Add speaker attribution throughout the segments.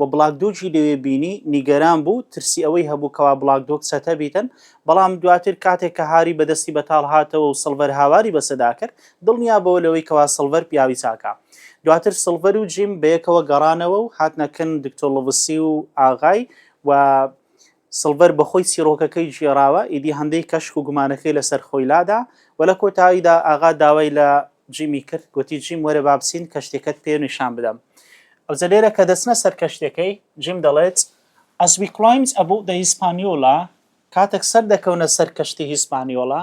Speaker 1: و بڵاکدۆگی لەوێ بینی، نیگەران بوو، ترسی ئەوەی هەبوو کەوا بڵاکدۆگ چەتە بیتن، بەڵام دواتر کاتێک کە هاری بە دەستی بەتاڵ هاتەوە و سڵڤەر هاواری بەسەدا کرد، دڵنیا بۆوە لەوەی کەوا سڵڤەر پیاوی چاکە. دواتر سڵڤەر و جیم بەیەکەوە گەڕانەوە و هاتنە کن دکتۆر لڤسی و ئاغای و سڵڤەر بەخۆی چیڕۆکەکەی گێڕاوە، ئیدی هەندەی کەشک و گومانەکەی لەسەر خۆی لادا و لە کۆتاییدا ئاغا داوای لە جیمی کرد، گۆتی، جیم وەرە با بچین کەشتیەکەت پێ نیشان بدەم. ئەوجە لێرە کە دەچنە سەر کەشتیەکەی، جیم دەڵێت، As we climbed aboard the Hispaniola، کاتەک سەر دەکەونە سەر کەشتی هیسپانیۆلا،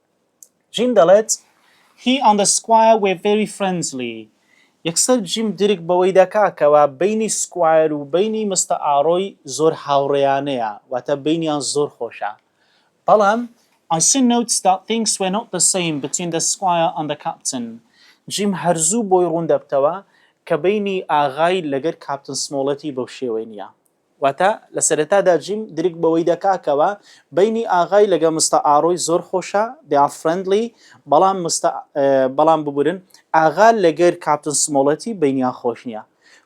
Speaker 1: جیم دەڵێت، He and the Squire were very friendly یەکسەر جیم درک بەوەی دەکا کەوا بەینی سکوایر و بەینی مستە ئاڕۆی زۆر هاوڕێیانەیە واتە بەینیان زۆر خۆشە بەڵام I soon noticed that things were not the same between the squire and the captain جیم هەرزوو بۆی ڕوون دەبتەوە کە بەینی ئاغای لەگەر کاپتن سمۆڵێتی بەو شێوەی نیە واتە لە سەرەتادا جیم درک بەوەی دەکا کەوا بەینی ئاغای لەگە مستە ئاڕۆی زۆر خۆشە they are friendly بەڵام مستە بەڵام ببورن ئاغا لەگەر کاپتن سمۆڵێتی بەینیان خۆش نیە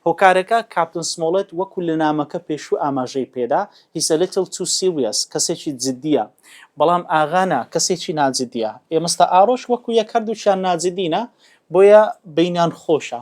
Speaker 1: هۆکارەکە کاپتن سمۆڵێت وەکو لە نامەکە پێشوو ئاماژەی پێدا he's a little too serious کەسێکی جدیە بەڵام ئاغا نا کەسێکی ناجدیە ئێ مستە ئاڕۆش وەکو یەک هەردووکیان ناجدینە بۆیە بەینیان خۆشە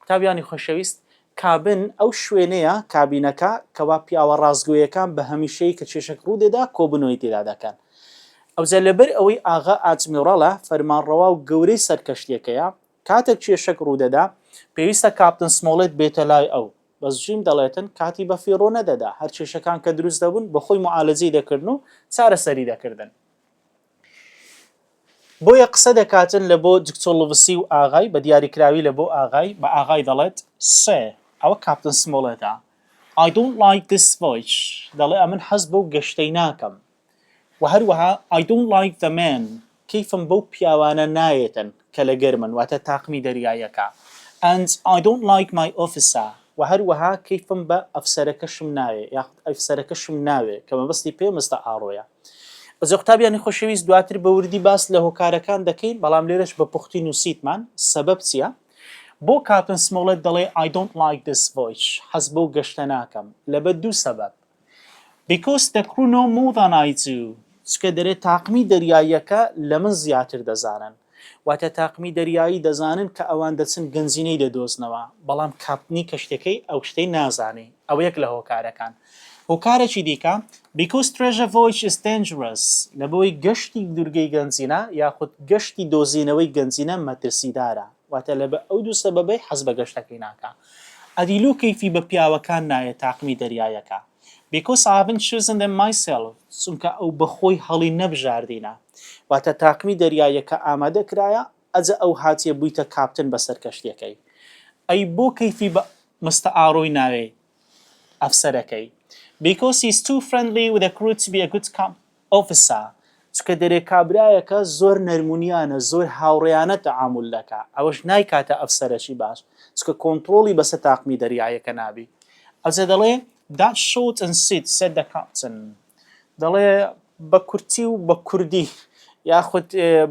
Speaker 1: قوتابیانی خۆشەویست، کابن ئەو شوێنەیە، کابینەکە، کەوا پیاوە ڕاستگۆیەکان بە هەمیشەیی کە کێشەک ڕوو دێدا کۆبوونەوەی تێدا دەکەن. ئەوجا لەبەر ئەوەی ئاغا ئادمیڕاڵە، فەرمانڕەوا و گەورەی سەر کەشتیەکەیە، کاتێک کێشەک ڕوو دەدا، پێویستە کاپتن سمۆڵێت بێتە لای ئەو. بەس جیم دەڵێتن کاتی بە فیڕۆ نەدەدا، هەر کێشەکان کە دروست دەبوون، بە خۆی موعالەجەی دەکردن و چارەسەری دەکردن. بۆیە قسە دەکاتن لە بۆ دکتۆر لڤسی و ئاغای، بە دیاریکراوی لە بۆ ئاغای، بە ئاغای دەڵێت، سێ، ئەوە کاپتن سمۆڵێتە. ئای دۆنت لایک دیس ڤۆیچ، دەڵێ ئەمن حەز بەو گەشتەی ناکەم. وە هەروەها، ئای دۆنت لایک دە مێن، کەیفم بەو پیاوانە نایێتن کە لەگەرمن، واتە تاقمی دەریاییەکە. ئەند ئای دۆنت لایک مای ئۆفیسە، وە هەروەها کەیفم بە ئەفسەرەکەشم نایێ، یاخود ئەفسەرەکەشم ناوێ، کە مەبەستی پێمستا ئاڕۆیە. بەزێ قوتابیانی خۆشەویست دواتر بە وردی باس لە هۆکارەکان دەکەین بەڵام لێرەش بە پوختی نووسیتمان سەبەب چییە؟ بۆ کاپتن سمۆڵێت دەڵێ I don't like this voyage حەز بەو گەشتە ناکەم لەبەر دوو سەبەب Because the crew know more than I do چکە دەرێ تاقمی دەریاییەکە لە من زیاتر دەزانن واتە تاقمی دەریایی دەزانن کە ئەوان دەچن گەنجینەی دەدۆزنەوە، بەڵام کاپتنی کەشتیەکەی ئەو شتەی نازانێ، ئەوە یەک لە هۆکارەکان. هۆکارێکی دیکە، Because Treasure Voyage is Dangerous، لەبەوەی گەشتی دورگەی گەنجینە یاخود گەشتی دۆزینەوەی گەنجینە مەترسیدارە، واتە لەبە ئەو دوو سەبەبەی حەز بە گەشتەکەی ناکا. ئەدی لۆ کەیفی بە پیاوەکان نایێ تاقمی دەریایەکە؟ بیکۆز ئای هەڤنت چوزن دەم مای سێڵڤ، چونکە ئەو بە خۆی هەڵی نەبژاردینە، واتە تاقمی دەریاییەکە ئامادە کرایە، ئەجە ئەو هاتیە بویتە کاپتن بە سەر کەشتیەکەی، ئەی بۆ کەیفی بە مستە ئارۆی ناوێی ئەفسەرەکەی، بیکۆز هی ئیز توو فرێندلی ویز ئە کروو تو بی ئە گوود ئەو فسا چکە دەرێ کابرایەکە زۆر نەرمونیانە زۆر هاوڕێیانە تەعامول دەکا ئەوەش نایکاتە ئەفسەرەکی باش چکە کۆنتڕۆڵی بەسە تاقمی دەریایەکە نابی ئەوجە دەڵێ That shot and sit said the captain دەڵێ بە کورتی و بە کوردی یاخود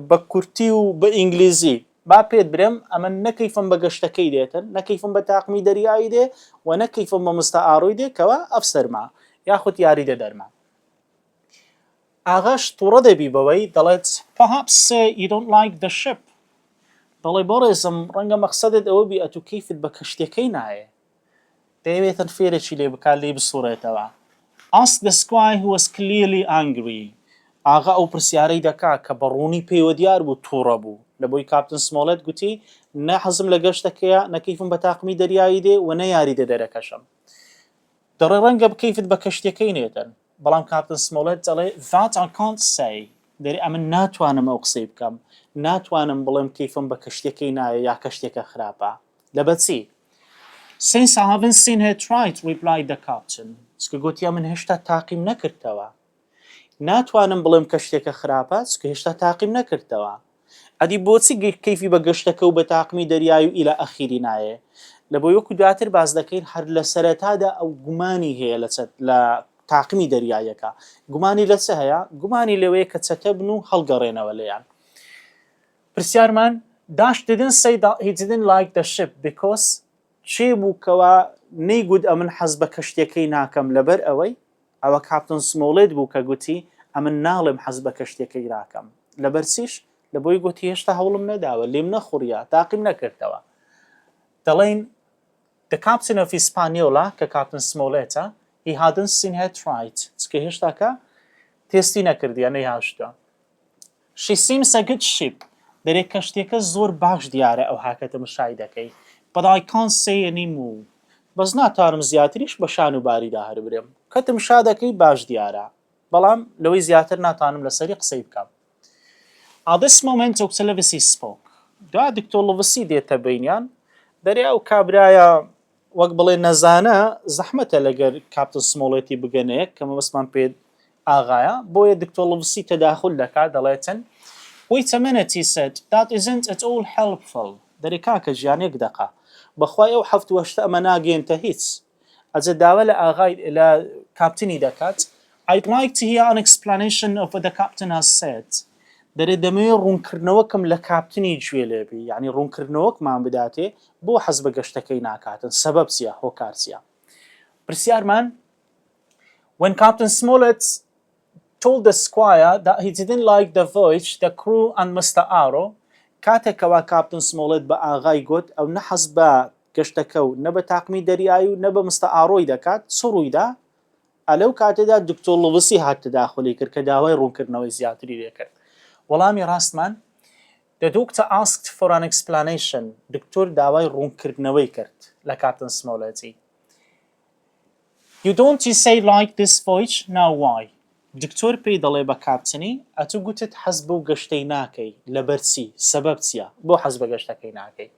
Speaker 1: بە کورتی و بە ئینگلیزی با پێت برێم ئەمە نە کەیفم بە گەشتەکەی دێتن نە کەیفم بە تاقمی دەریایی دێ و نە کەیفم بە مستەعاڕوی دێ کەوا ئەفسەرمە یاخود یاریدەدەرمە ئاغاش توڕە دەبی بەوەی دەڵێت Perhaps uh, you don't like the ship دەڵێ بەڕێزم ڕەنگە مەقسەدت ئەوە بی ئەتو کەیفت بە کەشتیەکەی نایێ دەیەوێتن فێرێکی لێ بکات لێی بسوڕێتەوە Ask the squire who was clearly angry ئاغا ئەو پرسیارەی دەکا کە بە ڕوونی پێیوە دیار بوو تووڕە بوو لە بۆی کاپتن سمۆڵێت گوتی نە حەزم لە گەشتەکەیە نە کەیفم بە تاقمی دەریایی دێ و نە یاریدە دەرەکەشم دەڵێ ڕەنگە بکەیفت بە کەشتیەکەی نێدەن، بەڵام کاپتن سمۆڵێت دەڵێ That I can't say، دەرێ ئەمن ناتوانم ئەو قسەی بکەم، ناتوانم بڵێم کەیفم بە کەشتیەکەی نایە یا کەشتیەکە خراپە، لە بە چی؟ Since I haven't seen her try it، ڕیپلای دە کاپتن، چکە گۆتی ئەمن هێشتا تاقیم نەکردتەوە. ناتوانم بڵێم کە شتێکە خراپە چونکە هێشتا تاقیم نەکردتەوە ئەدی بۆچی کەیفی بە گەشتەکە و بە تاقمی دەریای و ئیلە ئەخیری نایێ لەبۆی وەکو دواتر باس دەکەین هەر لە سەرەتادا ئەو گومانی هەیە لە چەت لە تاقمی دەریاییەکە گومانی لە چ هەیە گومانی لەوەیە کە چەتە بن و هەڵگەڕێنەوە لێیان پرسیارمان داشت دیدن سی هی دیدن لایک دە شپ بیکۆس کێ بوو کەوا نەیگوت ئەمن حەز بە کەشتیەکەی ناکەم لەبەر ئەوەی ئەوە کاپتن سمۆڵێت بوو کە گوتی ئەمن ناڵێم حەز بە کەشتیەکەی راکەم لەبەر چیش لەبۆی گوتی هێشتا هەوڵم نەداوە لێم نەخوڕیە تاقیم نەکردەوە دەڵێن The captain of Hispaniola کە کاپتن سمۆڵێتە he hadn't seen her try it چکە هێشتاکە تێستی نەکردیە نەیهاشتە She seems a good ship دەرێ کەشتیەکە زۆر باش دیارە ئەوها کە تەمشای دەکەی But I can't say any more بەس ناتوانم زیاتریش بە شان و باریدا هەر برێم کە تمشا دەکەی باش دیارە بەڵام لەوەی زیاتر ناتوانم لەسەری قسەی بکەم At this moment Doctor Livesey spoke دوا دکتۆر لڤسی دێتە بینیان دەرێ ئەو کابرایە وەک بڵێ نەزانە زەحمەتە لەگەر کاپتن سمۆڵێتی بگەنەیەک کە مەبەستمان پێ ئاغایە بۆیە دکتۆر لڤسی تەداخول دەکا دەڵێتن وەی تەمەنت هی سەد دات ئیزنت ئەت ئۆڵ هێڵپفڵ دەرێ کاکە جیان یەک دەقە بەخوای ئەو حەفت وەشتە ئەمە ناگەینتە هیچ ئەجە داوا لە ئاغای لە کاپتنی دەکات ئایت لایک تیهیە ئەن ئێکسپلانەیشن ئۆف وەت دە کاپتن هاز سێد دەرێ دەمەوێ ڕوونکردنەوەکم لە کاپتنی جوێ لێ بی یانی ڕوونکردنەوەکمان بداتێ بۆ حەز بە گەشتەکەی ناکاتن سەبەب چیە هۆکار چیە پرسیارمان When Captain Smollett told the squire that he didn't like the voyage, the crew and Mr. Arrow کاتێک کەوا کاپتن سمۆڵێت بە ئاغای گوت ئەو نەحەز بە گەشتەکە و نە بە تاقمی دەریایی و نە بە مستە ئاڕۆی دەکات چ ڕوویدا ئا لەو کاتەدا دکتۆر لووسی هات تەداخولی کرد کە داوای ڕوونکردنەوەی زیاتری لێ کرد. وەڵامی ڕاستمان، The Doctor asked for an explanation، دکتۆر داوای ڕوونکردنەوەی کرد لە کاپتن سمۆڵێتی. You don't say like this voyage، Now why؟ دکتۆر پێی دەڵێ بە کاپتنی، ئەتوو گوتت حەز بەو گەشتەی ناکەی، لەبەر چی؟ سەبەب چییە؟ بۆ حەز بە گەشتەکەی ناکەی؟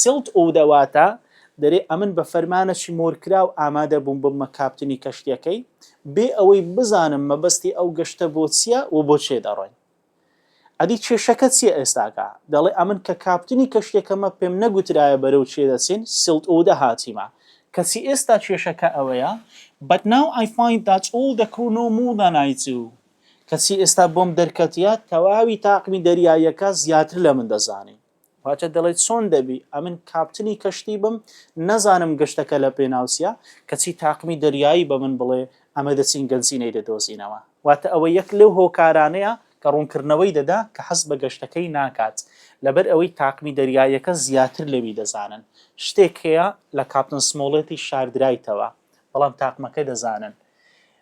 Speaker 1: سیڵت ئوو دەواتە، دەرێ ئەمن بە فەرمانەکی مۆرکراو ئامادە بووم ببمە کاپتنی کەشتیەکەی، بێ ئەوەی بزانم مەبەستی ئەو گەشتە بۆ چیە و بۆ کێ دەڕۆین. ئەدی کێشەکە چیە ئێستاکە؟ دەڵێ ئەمن کە کاپتنی کەشتیەکەمە پێم نەگوترایە بەرەو کێ دەچین، سیڵت ئوو دە هاتیمە. کەچی ئێستا کێشەکە ئەوەیە، But now I find that all the crew know more than I do، کەچی ئێستا بۆم دەرکەتیە تەواوی تاقمی دەریاییەکە زیاتر لە من دەزانین. واتا دەڵێت چۆن دەبی ئەمن کاپتنی کەشتی بم نەزانم گەشتەکە لە پێناو چیە کەچی تاقمی دەریایی بە من بڵێ ئەمە دەچین گەنجینەی دەدۆزینەوە واتا ئەوە یەک لەو هۆکارانەیە کە ڕوونکردنەوەی دەدا کە حەز بە گەشتەکەی ناکات لەبەر ئەوەی تاقمی دەریاییەکە زیاتر لەوی دەزانن شتێک هەیە لە کاپتن سمۆڵێتی شاردرایتەوە بەڵام تاقمەکە دەزانن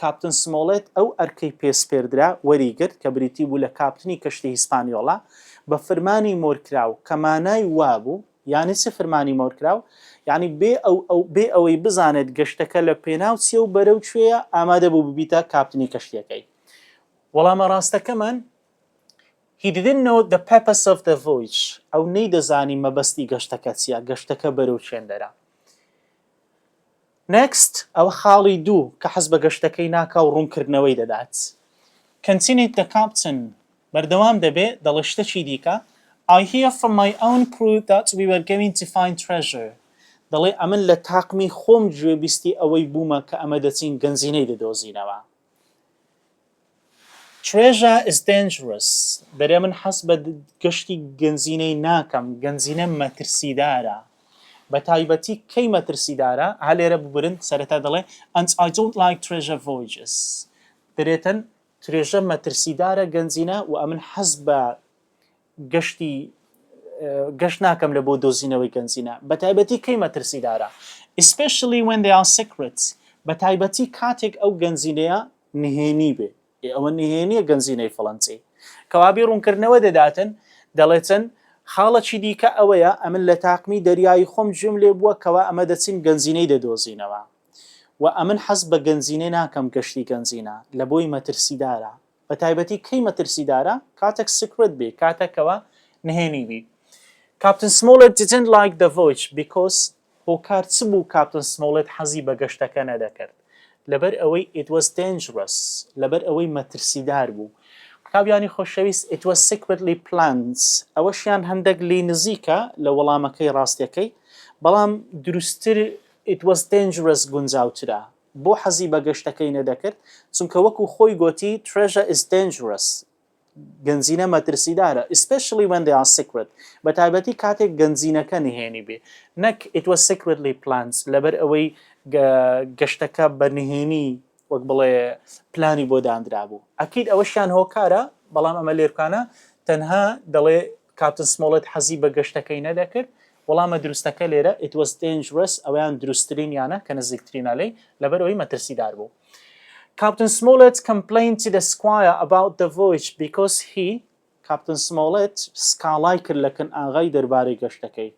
Speaker 1: کاپتن سمۆڵێت ئەو ئەرکەی پێ سپێردرا وەری گرت کە بریتی بوو لە کاپتنی کەشتی هیسپانیۆڵا بە فرمانی مۆرکراو کە مانای وابوو، یانی چ فرمانی مۆرکراو؟ یانی بێ ئەو ئەو بێ ئەوەی بزانێت گەشتەکە لە پێناو چیە و بەرەو کوێیە ئامادە بوو ببیتە کاپتنی کەشتیەکەی. وەڵامە ڕاستەکەمان، He didn't know the purpose of the voyage ئەو نەیدەزانی مەبەستی گەشتەکە چیە، گەشتەکە بەرەو چێندەرە. Next، ئەوە خاڵی دوو کە حەزبە گەشتەکەی ناکا و ڕوونکردنەوەی دەدات. Continued the Captain، بەردەوام دەبێ دەڵێ شتەکی دیکە، I hear from my own crew that we were going to find treasure، دەڵێ ئەمن لە تاقمی خۆم گوێبیستی ئەوەی بوومە کە ئەمە دەچین گەنجینەی دەدۆزینەوە. چوێژە is dangerous دەرێ من حەز بە گەشتی گەنجینەی ناکەم گەنجینە مەترسیدارە بە تایبەتی کەی مەترسیدارە ها لێرە ببرن سەرەتا دەڵێ and I don't like treasure voyages دەرێتن ترێژە مەترسیدارە گەنجینە و ئەمن حەز بە گەشتی گەشت ناکەم لە بۆ دۆزینەوەی گەنجینە بەتایبەتی کەی مەترسیدارە especially when they are secret بەتایبەتی کاتێک ئەو گەنجینەیە نهێنی بێ ئێ ئەوە نهێنیە گەنجینەی فڵەنچی کەوابی ڕوونکردنەوە دەداتن دەڵێتن خاڵەکی دیکە ئەوەیە ئەمن لە تاقمی دەریایی خۆم گوێم لێ بووە کەوا ئەمە دەچین گەنجینەی دەدۆزینەوە و ئەمن حەز بە گەنجینە ناکەم گەشتی گەنجینە لە بۆی مەترسیدارە بە تایبەتی کەی مەترسیدارە کاتەک سیکرێت بی کاتەک کەوا نهێنی بی کاپتن سمۆڵێت دیدنت لایک دە ڤۆیچ بیکۆس هۆکار چ بوو کاپتن سمۆڵێت حەزی بە گەشتەکە نەدەکرد لەبەر ئەوەی ئیت واز دەینجرەس لەبەر ئەوەی مەترسیدار بوو قوتابیانی خۆشەویست ئیت واز سیکرێتلی پلاند ئەوەشیان هەندەک لی نزیکە لە وەڵامەکەی ڕاستەکەی بەڵام دروستتر ئیت واز دەینجرەس گونجاوترە بۆ حەزی بە گەشتەکەی نەدەکرد، چونکە وەکو خۆی گۆتی Treasure is dangerous گەنجینە مەترسیدارە especially when they are secret بە تایبەتی کاتێک گەنجینەکە نهێنی بێ نەک It was secretly planned لەبەر ئەوەی گەشتەکە بە نهێنی وەک بڵێ پلانی بۆ داندرابوو ئەکید ئەوەشیان هۆکارە بەڵام ئەمە لێرکانە تەنها دەڵێ کاپتن سمۆڵێت حەزی بە گەشتەکەی نەدەکرد. وەڵامە دروستەکە لێرە It was dangerous، ئەویان دروستترین یانە کە نزیکترینە لێی، لەبەر ئەوەی مەترسیدار بوو. کاپتن سمۆڵێت complained to the squire about the voyage because he، کاپتن سمۆڵێت سکاڵای کرد لە کن ئاغای دەربارەی گەشتەکەی.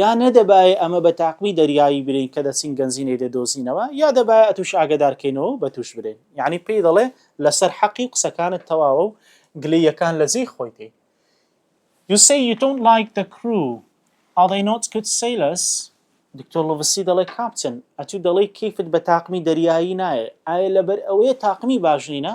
Speaker 1: یا نەدەبایێ ئەمە بە تاقمی دەریایی برێین کە دەچین گەنجینەی دەدۆزینەوە یا دەبایە ئەتووش ئاگەدار کەینەوە و بەتووش برێین یانی پێی دەڵێ لەسەر حەقی و قسەکانت تەواوە و گلەییەکان لە جێی خۆیتی You say you don't like the crew Are they not good sailors دکتۆر لڤسی دەڵێ کاپتن ئەتوو دەڵێی کەیفت بە تاقمی دەریایی نایێ ئایە لەبەر ئەوەیە تاقمی باش نینە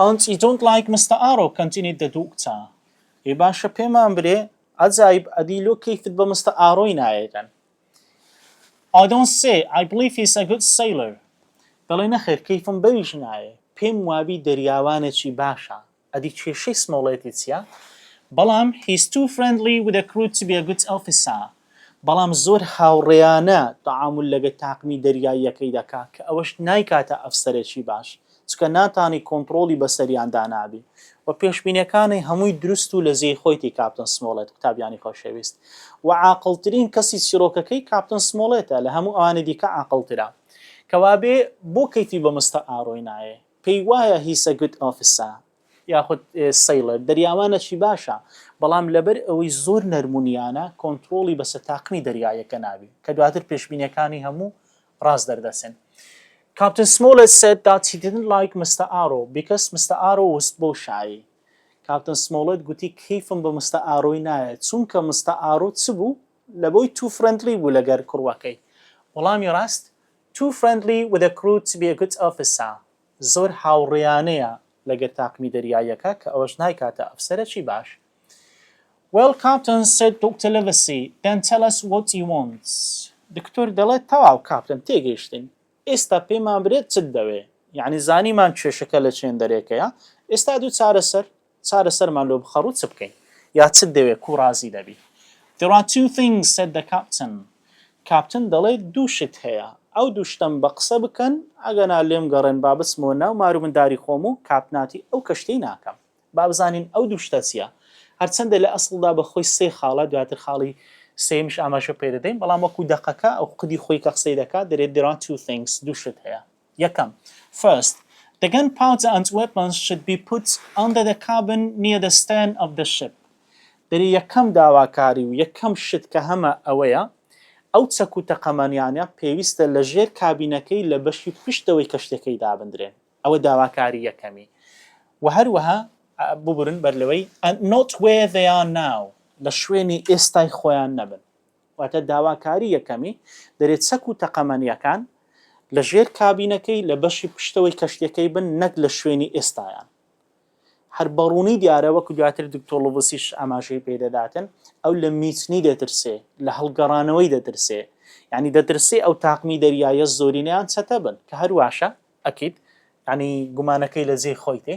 Speaker 1: ئانت ی دۆنت لایک مستە ئارۆ کەنتینیت دە دوو کچە. ئێ باشە پێمان برێ عەجایب ئەدی لۆ کەیفت بە مستە ئارۆی نایەگەن I don't see I believe he's a good sailor دەڵێ نەخێر کەیفم بەویش نایێ پێم وابی دەریاوانێکی باشە. ئەدی کێشەی سمۆڵێتی چیە؟ بەڵام he's too friendly with a crew to be a good officer بەڵام زۆر هاوڕێیانە تەعامول لەگەر تاقمی دەریاییەکەی دەکا کە ئەوەش نایکاتە ئەفسەرێکی باش چکە ناتانی کۆنتڕۆڵی بەسەریان دانابی وە پێشبینەکانی هەمووی دروست و لەجێی خۆیتی کاپتن سمۆڵێت قوتابیانی خۆشەویست وە عاقڵترین کەسی چیڕۆکەکەی کاپتن سمۆڵێتە لە هەموو ئەوانی دیکە عاقڵترە کەوابێ بۆ کەیفی بە مستە ئارۆی نایێ؟ پێی وایە He's a good officer یاخود Sailor دەریاوانەکی باشە، بەڵام لەبەر ئەوەی زۆر نەرم و نیانە کۆنتڕۆڵی بەسەر تاقمی دەریاییەکە نابێت، کە دواتر پێشبینیەکانی هەموو ڕاست دەردەچن. Captain Smollett said that he didn't like Mister Arrow because Mister Arrow was بۆشایی. کاپتن سمۆڵێت گوتی کەیفم بە مستە ئارۆی نایە چونکە مستە ئارۆ چ بوو لە بۆی تو فرندلی بوو لەگەر کوڕوەکەی وەڵامی ڕاست Too friendly with a crew to be a good officer زۆر هاوڕێیانەیە لەگەر تاقمی دەریاییەکە کە ئەوەش نایکاتە ئەفسەرەکی باش. Well Captain said Doctor Livesey then tell us what you want دکتۆر دەڵێت تەواو کاپتن تێگەیشتین ئێستا پێمان برێت چت دەوێ یانی زانیمان کێشەکە لە چێندەرێکەیە ئێستا دوو چارەسەر چارەسەرمان لۆ بخە ڕوو چ بکەین یا چت دەوێ کوو ڕازی دەبی There are two things said the captain کاپتن دەڵێ دوو شت هەیە ئەو دوو شتەم بە قسە بکەن ئەگەنا لێم گەڕێن با بچمەوە ناو مارو منداری خۆم و کاپناتی ئەو کەشتیەی ناکەم با بزانین ئەو دوو شتە چیە هەرچەندە لە ئەسڵدا بە خۆی سێ خاڵە دواتر خاڵی سێیەمیش ئاماژە پێ دەدەین بەڵام وەکو دەقەکە ئەو قودی خۆی کە قسەی دەکات دەرێت There are two things دوو شت هەیە یەکەم، First، The gun powder and weapons should be put under the cabin near the stern of the ship. دەری یەکەم داواکاری و یەکەم شت کە هەمە ئەوەیە ئەو چەک و تەقەمەنیانە پێویستە لە ژێر کابینەکەی لە بەشی پشتەوەی کەشتیەکەی دابندرێن ئەوە داواکاری یەکەمی و هەروەها ببورن بەر لەوەی and not where they are now لە شوێنی ئێستای خۆیان نەبن واتە داواکاری یەکەمی دەرێ چەک و تەقەمەنییەکان لە ژێر کابینەکەی لە بەشی پشتەوەی کەشتیەکەی بن نەک لە شوێنی ئێستایان. هەر بەڕوونی دیارە وەکو دواتر دکتۆر لوبسیش ئاماژەی پێ دەداتن ئەو لە میتنی دەترسێ لە هەڵگەڕانەوەی دەترسێ یعنی دەترسێ ئەو تاقمی دەریایە زۆرینەیان چەتە بن کە هەرواشە ئەکید ینی گومانەکەی لە جێی خۆیتی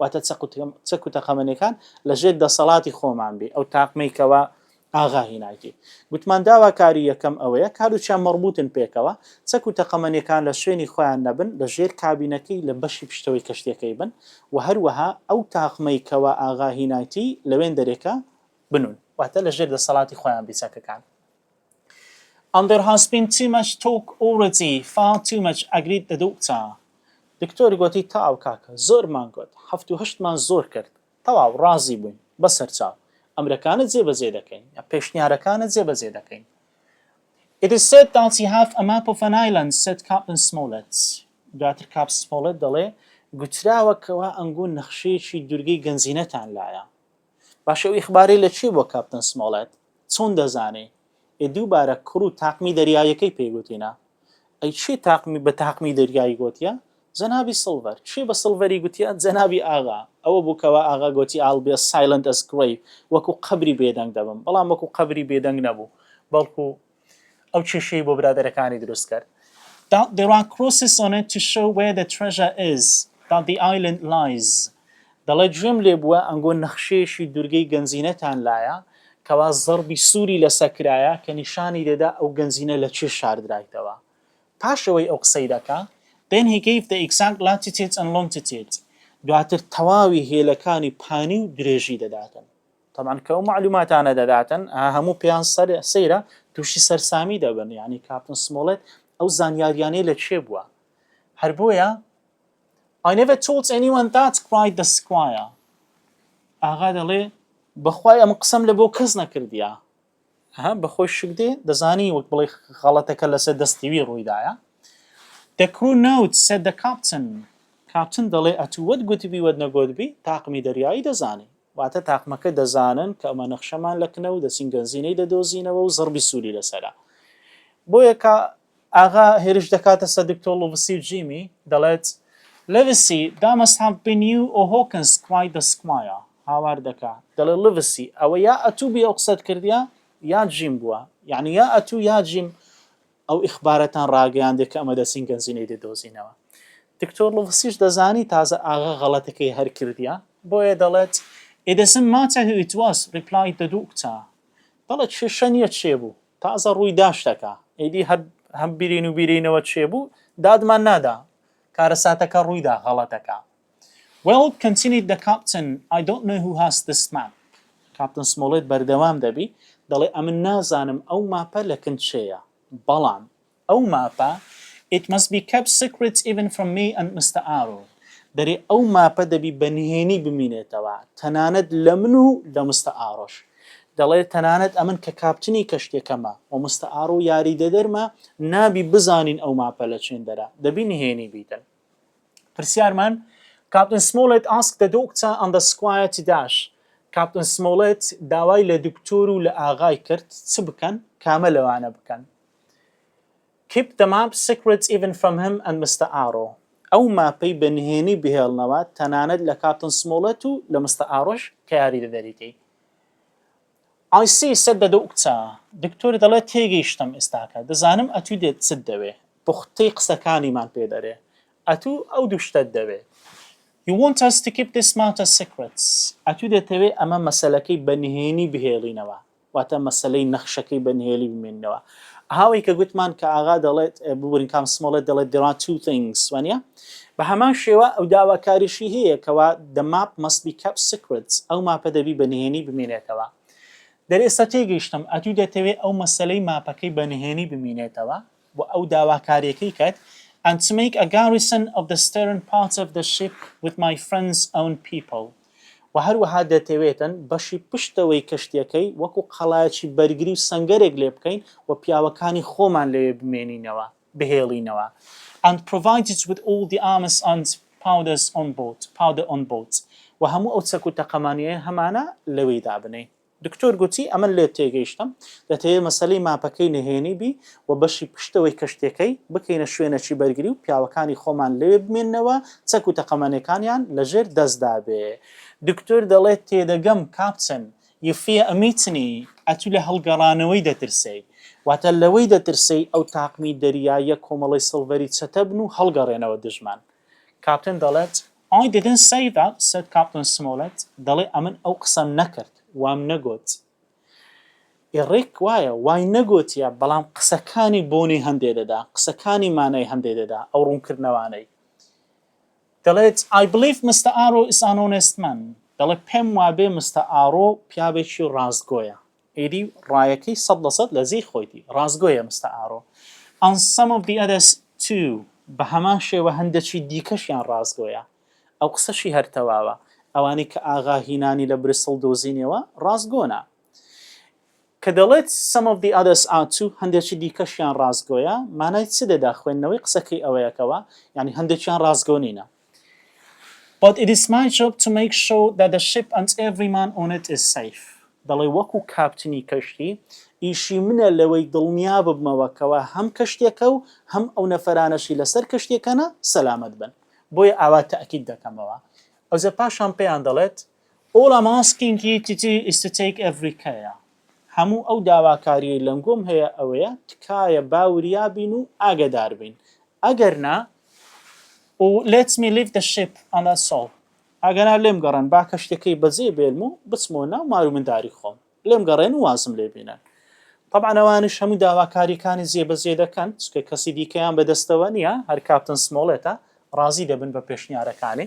Speaker 1: واتە چەک و تەقەمەنیەکان لە ژێر دەسەڵاتی خۆمان بێ ئەو تاقمەی کەوا ئاغا هیناکی گوتمان داواکاری یەکەم ئەوەیە کاروچیان مەڕبوتن پێکەوە چەک و تەقەمەنیەکان لە شوێنی خۆیان نەبن لە ژێر کابینەکەی لە بەشی پشتەوەی کەشتیەکەی بن و هەروەها ئەو تاقمەی کەوا ئاغا هینایتی لەوێندەرێکە بنون واتە لە ژێر دەسەڵاتی خۆیان بی چەکەکان. and there has been too much talk already far too much agreed the doctor دکتۆر گۆتی تەواو کاکە زۆرمان گۆت حەفت و هەشتمان زۆر کرد تەواو ڕازی بووین بەسەرچاو ئەمرەکانت جێ بەجێ دەکەین یا پێشنیارەکانت جێ بەجێ دەکەین It is said that you have a map of an island said Captain Smollett دواتر کاپ سمۆڵێت دەڵێ گوتراوە کەوا ئەنگۆ نەخشەیەکی دورگەی گەنجینەتان لایە باشە ئەو ئیخبارەی لە کوێ بووە کاپتن سمۆڵێت؟ چۆن دەزانی؟ ئێ دووبارە کوڕ و تاقمی دەریاییەکەی پێی گوتینە؟ ئەی کێ تاقمی بە تاقمی دەریایی گۆتیە؟ جەنابی سڵڤەر. کێ بە سڵڤەری گوتیە جەنابی ئاغا؟ ئەوە بوو کەوا ئاغا گۆتی I'll be as silent as grave وەکوو قەبری بێدەنگ دەبم، بەڵام وەکوو قەبری بێدەنگ نەبوو، بەڵکوو. ئەو کێشەی بۆ برادەرەکانی دروست کرد. that there are crosses on it to show where the treasure is that the island lies دەڵێ گوێم لێ بووە ئەنگۆ نەخشەیەشی دوورگەی گەنجینەتان لایە کەوا زەڕبی سووری لەسە کرایە کە نیشانی دەدا ئەو گەنجینە لە کوێ شاردرایتەوە پاش ئەوەی ئەو قسەی دەکا then he gave the exact latitude and longitude دواتر تەواوی هێلەکانی پانی و درێژی دەداتن تەبعەن کە ئەو مەعلوماتانە دەداتن هەموو پێیان سەیرە تووشی سەرسامی دەبن یعنی کاپتن سمۆڵێت ئەو زانیاریانەی لە کێ بووە هەر بۆیە I never told anyone that cried the squire ئاغا دەڵێ بەخوای ئەم قسەم لە بۆ کەس نەکردیە ها بەخۆی شک دێ دەزانی وەک بڵێ خەڵەتەکە لەسەر دەستیوی ڕوویدایە The crew note said the captain کاپتن دەڵێ ئەتووت گوتبی وەت نەگوتبی تاقمی دەریایی دەزانی واتە تاقمەکە دەزانن کە ئەمە نەخشەمان لە کنە و دەچین گەنزینەی دەدۆزینەوە و زڕبی سووری لەسەرە. بۆیە کە ئاغا هێرش دەکاتە سەر دکتۆر لڤسی و جیمی، دەڵێت، لڤسی، دا مەست هاڤ بین یو ئۆ هۆکنز کوایت دە سکمایا، هاوار دەکا، دەڵێ، لڤسی، ئەوە یا ئەتوو بووی ئەو قسەت کردیە یا جیم بووە، یانی یا ئەتوو یا جیم، ئەو ئیخبارەتان ڕاگەیاندێ کە ئەمە دەچین گەنجینەی دەدۆزینەوە. دکتۆر لوغسیش دەزانی تازە ئاغا غەڵەتەکەی هەر کردیە، بۆیە دەڵێت، It doesn't matter who it was، replied the doctor، دەڵێت کێشە نیە کێ بوو، تازە ڕووی دا شتەکە، ئیدی هەر هەم برین و بیرینەوە کێ بوو دادمان نادا، کارەساتەکە ڕووی دا، غەڵەتەکە Well continued the captain I don't know who has this map کاپتن سمۆڵێت بەردەوام دەبی دەڵێ ئەمن نازانم ئەو ماپە لە کن چێیە بەڵام ئەو ماپە It must be kept secret even from me and Mister Arrow دەرێ ئەو ماپە دەبی بە نهێنی بمینێتەوە تەنانەت لە من و لە مستە ئارۆش دەڵێ تەنانەت ئەمن کە کاپتنی کەشتێکەمە و مستە ئارۆ یاریدەدەرمە نابی بزانین ئەو ماپە لە چێندەرە دەبی نهێنی بیتن پرسیارمان کاپتن سمۆڵێت ئاسک دە دۆکتا ئەن دە سکوایەتی داش کاپتن سمۆڵێت داوای لە دکتۆر و لە ئاغای کرد چ بکەن کامە لەوانە بکەن کیپ دە ماپ سیکرێت ئیڤن فرام هەم ئەند مستە ئارۆ ئەو ماپەی بە نهێنی بهێڵنەوە تەنانەت لە کاپتن سمۆڵێت و لە مستە ئارۆش کە یاری دەدەریتەی ئای سی سەر دەدە و کچە. دکتۆری دەڵێ تێگەیشتم ئێستاکە دەزانم ئەتوو دێت چت دەوێ پوختەی قسەکانیمان پێ دەرێ ئەتوو ئەو دوو شتەت دەوێ You want us to keep this matter secret ئەتوو دەتەوێ ئەمە مەسەلەکەی بە نهێنی بهێڵینەوە واتە مەسەلەی نەخشەکەی بە نهێلی بمێنینەوە ئاوەی کە گوتمان کە ئاغا دەڵێت ببورن کام سمۆڵێت دەڵێت there are two things وانە بە هەمان شێوە ئەو داواکاریشی هەیە کەوا the map must be kept secret ئەو ماپە دەبی بە نهێنی بمێنێتەوە دەر ئێستا تێگەیشتم ئەتوو دەتەوێت ئەو مەسلەی ماپەکەی بە نهێنی بمینێتەوە و ئەو داواکاریەکەی کەت and to make a garrison of the stern part of the ship with my friends own people و هەروەها دەتەوێتن بەشی پشتەوەی کەشتیەکەی وەکو قەڵایەکی بەرگری و سەنگەرێک لێ بکەین و پیاوەکانی خۆمان لەوێ بمێنینەوە، بهێڵینەوە and provided with all the arms and powders on board، powder on board، و هەموو ئەو چەک و تەقەمانیەیە هەمانە لەوێی دابنێین. دکتۆر گوتی ئەمن لێت تێگەیشتم دەتەوێ مەسەلەی ماپەکەی نهێنی بی و بەشی پشتەوەی کەشتیەکەی بکەینە شوێنەکی بەرگری و پیاوەکانی خۆمان لەوێ بمێننەوە چەک و تەقەمەنێکانیان لە ژێر دەستدا بێ. دکتۆر دەڵێت تێدەگەم کاپتن، یفیە ئمیتنی، ئەتو لە هەڵگەڕانەوەی دەترسێی. واتە لەوەی دەترسێی ئەو تاقمی دەریاییە کۆمەڵەی سڵڤەری چەتە بن و هەڵگەڕێنەوە دژمان. کاپتن دەڵێت. I didn't say that said Captain Smollett دەڵێ ئەمن ئەو قسەم نەکرد، وام نەگۆت. Eric وایە، وای نەگۆتیە، بەڵام قسەکانی بۆنی هەندێ دەدا، قسەکانی مانای هەندێ دەدا، ئەو ڕوونکردنەوانەی. دەڵێت I believe Mister Arrow is an honest man دەڵێ پێم وابێ مستەر ئارۆ پیاوێکی ڕاستگۆیە. ئیدی ڕایەکەی سەد لە سەد لە جێی خۆیتی. ڕاستگۆیە مستە ئارۆ. And some of the others too بە هەمان شێوە هەندێکی دیکەشیان ڕاستگۆیە. ئەو قسەشی هەر تەواوە. ئەوانەی کە ئاغا هینانی لە بریسڵ دۆزینیەوە ڕاستگۆنە. کە دەڵێت some of the others are too هەندێکی دیکەشیان ڕاستگۆیە مانای چ دەدا خوێندنەوەی قسەکەی ئەوەیەکەوە یانی هەندێکیان ڕاستگۆ نینە. But it is my job to make sure that the ship and every man on it is safe دەڵێ وەکو کاپتنی کەشتی ئیشی منە لەوەی دڵنیا ببمەوە کەوا هەم کەشتیەکە و هەم ئەو نەفەرانەشی لەسەر کەشتیەکەنە سەلامەت بن بۆیە ئاوا تەئکید دەکەمەوە ئەوجە پاشان پێیان دەڵێت All I'm asking you to do is to take every care هەموو ئەو داواکاریەی لەنگۆم هەیە ئەوەیە تکایە با وریا بین و ئاگەدار بین ئەگەر نا و let me leave the ship and that's all ئەگەر نا لێم گەڕێن با کەشتیەکەی بەجێ بێلم و بچمەوە ناو مار و منداری خۆم لێم گەڕێن و وازم لێ بینن طبعا ئەوانش هەموو داواکاریەکانی جێبەجێ دەکەن چکە کەسی دیکەیان بەدەستەوە نییە هەر کاپتن سمۆڵێتە ڕازی دەبن بە پێشنیارەکانی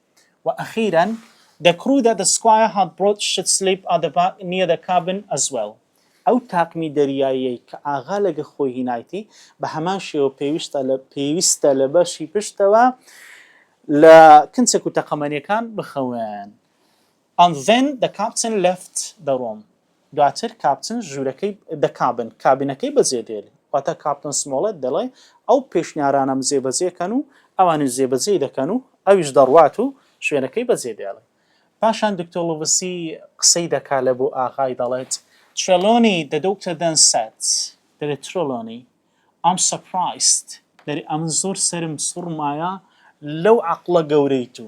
Speaker 1: و ئەخیرا دە کڕو دە دە سکوایە هات برۆت شت سلیپ ئا دە با نیە دە کابن ئەز وێڵ. ئەو تاقمی دەریاییەی کە ئاغا لە گە خۆی هینایتی، بە هەمان شێوە پێویستە لە پێویستە لە بەشی پشتەوە لە کنچەک و تەقەمەنیەکان بخەوێن. And then the captain left the room دواتر کاپتن ژوورەکەی the cabin کابینەکەی بەجێ دێل واتە کاپتن سمۆڵێت دەڵێ ئەو پێشنیارانەم جێبەجێ کەن و ئەوانیش جێبەجێی دەکەن و ئەویش دەڕوات و شوێنەکەی بەجێ دێڵێ پاشان دکتۆر لوڤسی قسەی دەکا لە بۆ ئاغای دەڵێت Trelawney the doctor then said دەڵێ ترۆلۆنی I'm surprised دەڵێ ئەمن زۆر سەرم سوڕمایە لەو عەقڵە گەورەی تو.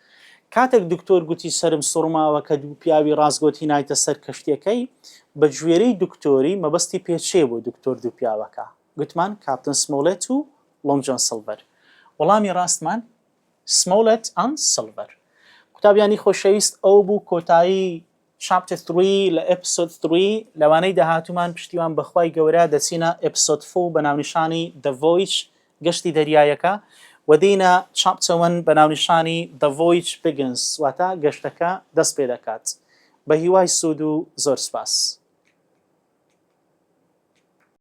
Speaker 1: کاتێک دکتۆر گوتی سەرم سوڕماوە کە دوو پیاوی ڕاستگۆتی نایتە سەر کەشتیەکەی، بە گوێرەی دکتۆری مەبەستی پێ چێ بۆ دکتۆر دوو پیاوەکە؟ گوتمان کاپتن سمۆڵێت و ڵۆنگ جۆن سڵڤەر. وەڵامی ڕاستمان Smollett and Silver قوتابیانی خۆشەویست ئەوە بوو کۆتایی Chapter Three لە Episode Three لەوانەی داهاتوومان پشتیوان بەخوای گەورە دەچینە Episode Four بە ناونیشانی The Voyage گەشتی دەریایەکە و دێینە Chapter One بە ناونیشانی The Voyage Begins واتە گەشتەکە دەست پێ دەکات بە هیوای سوود و زۆر سپاس.